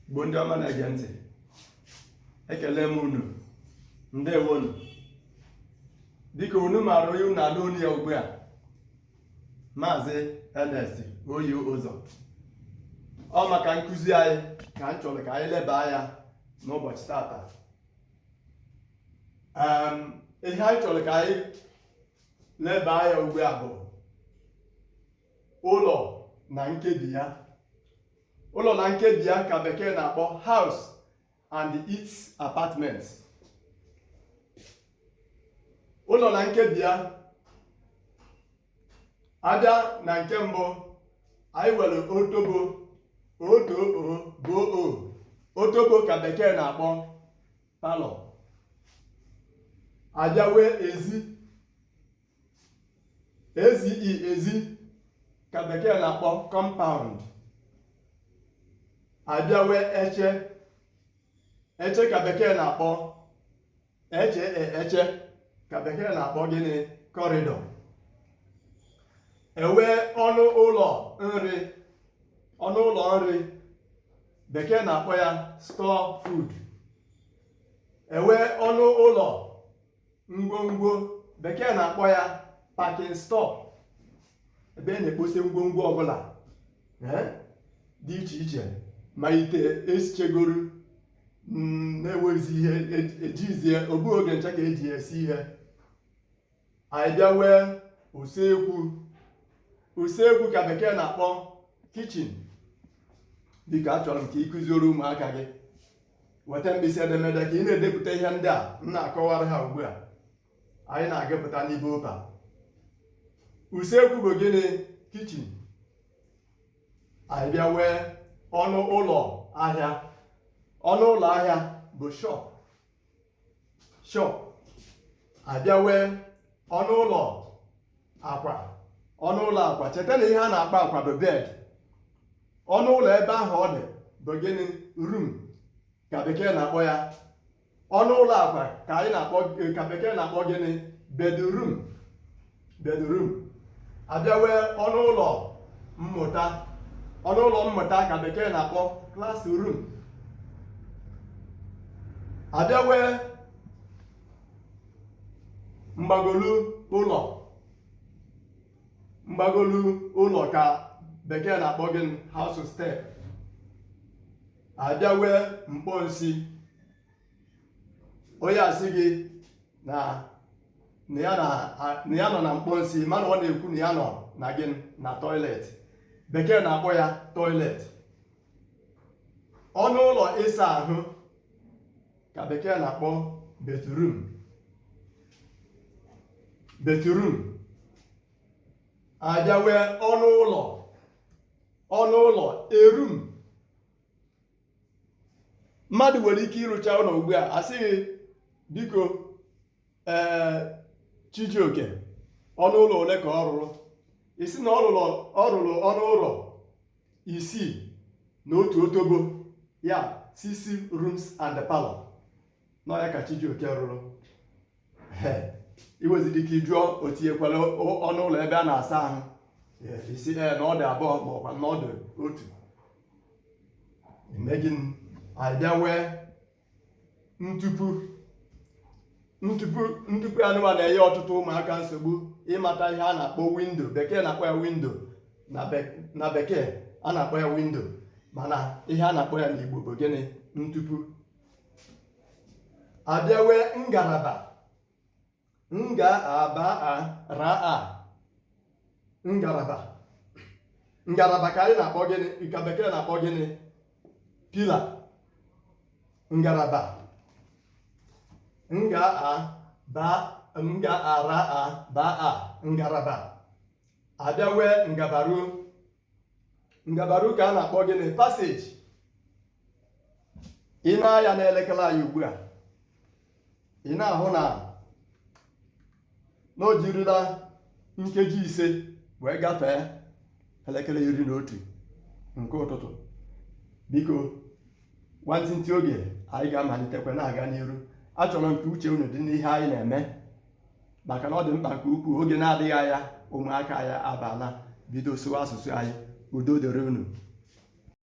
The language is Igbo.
Igbo ndị ọma na-ege ntị ekele m unu ndewonu dịka unu maara onye unu na-anụ onu ya ugbu a maazị Ernest oyi ụzọ ọ maka nkụzi anyị ka m chọrọ ka anyị leba anya n'ụbọchị tata ihe anyị chọrọ ka anyị leba anya ugbu a bụ ụlọ na nkebi ya ụlọ na nkebi ya ka bekee na-akpọ house and its apartment ụlọ na nkebi ya a bịa na nke mbụ anyị were otobo otobo otobo ka bekee na-akpọ parlour a bịa wee ezi ezi ezi ka bekee na-akpọ compound a bịa wee eche eche ka bekee na-akpọ eche e, eche ka bekee na-akpọ gịnị corridor e wee ọnụ ụlọ nri ọnụ ụlọ nri bekee na-akpọ ya store food e wee ọnụ ụlọ ngwongwo bekee na-akpọ ya packing store ebe a na-ekposi ngwongwo ọbụla eh, dị iche iche ma ite e sichegoro mm, na enweghịzi ihe e jizi e ọ bụ oge ncha ka e ji esi ihe anyị bịa wee usekwu usekwu ka bekee na-akpọ kitchen dịka achọrọ m ka ị kụziere ụmụaka gị weta mkpịsị edemede ka ị na-edepụta ihe ndị a m na-akọwara ha ugbu a anyị na-agụpụta n'ibe ụka usekwu bụ gịnị kitchen anyị bịa wee ọnụ ụlọ ahịa ọnụ ụlọ ahịa bụ shop shop a bịa wee ọnụ ụlọ akwa ọnụ ụlọ akwa cheta na ihe a na-akpọ akwa bụ bed ọnụ ụlọ ebe ahụ ọ dị bụ gịnị room ka bekee na-akpọ ya ọnụ ụlọ akwa ka anyị na-akpọ ka bekee na-akpọ gịnị bedroom bedroom a bịa wee ọnụ ụlọ mmụta ọnụ ụlọ mmụta ka bekee na-akpọ classroom a bịa wee mgbagolu ụlọ mgbagolu ụlọ ka bekee na-akpọ gịnị house step a bịa wee mkpọ nsi onye asị gị na na ya na a- na ya nọ na mkpọ nsị mana ọ na-ekwu na ya nọ na gịnị na toilet bekee na-akpọ ya toilet ọnụ ụlọ ịsa ahụ ka bekee na-akpọ bathroom bathroom a bịa nwee ọnụ ụlọ ọnụ ụlọ e room mmadụ nwere ike ịrụcha ụlọ ugbu a a sị gị biko ee Chijioke ọnụ ụlọ ole ka ọ rụrụ ị sị na ọ rụrụ ọnụ ụlọ isii na otu otobo ya six rooms and parlor na ya ka Chijioke rụrụ i nweziri ike jụọ o tinyekwara ọnụ ụlọ ebe a na-asa ahụ ị sị ee na ọ dị abụọ ma ọkwa na ọ dị otu e mee gịnị a bịa nwee ntupu ntupu ntupu anụwa na-enye ọtụtụ ụmụaka nsogbu ịmata ihe a na-akpọ window bekee na-akpọ ya window na bekee a na-akpọ ya window mana ihe a na-akpọ ya n'Igbo bụ gịnị ntupu abịawe ngalaba nga aba a ra a ngalaba ngalaba ka anyị na-akpọ gịnị ka bekee na-akpọ gịnị pila ngalaba nga a ba nga ara a ba a ngalaba abịawe ngabaru ngabaru ka a na-akpọ gịnị passage i nee anya n'elekere anyị ugbu a ị na-ahụ na na o jirila nkeji ise wee gafee elekere iri na otu nke ụtụtụ biko nwantịntị oge anyị ga-amalitekwa na-aga n'iru achọrọ m ka uche unu dị n'ihe anyị na-eme maka na ọ dị mkpa nke ukwuu oge na-adịghị anya ụmụaka ya abala bido sụwa asụsụ anyị udo dịrị unu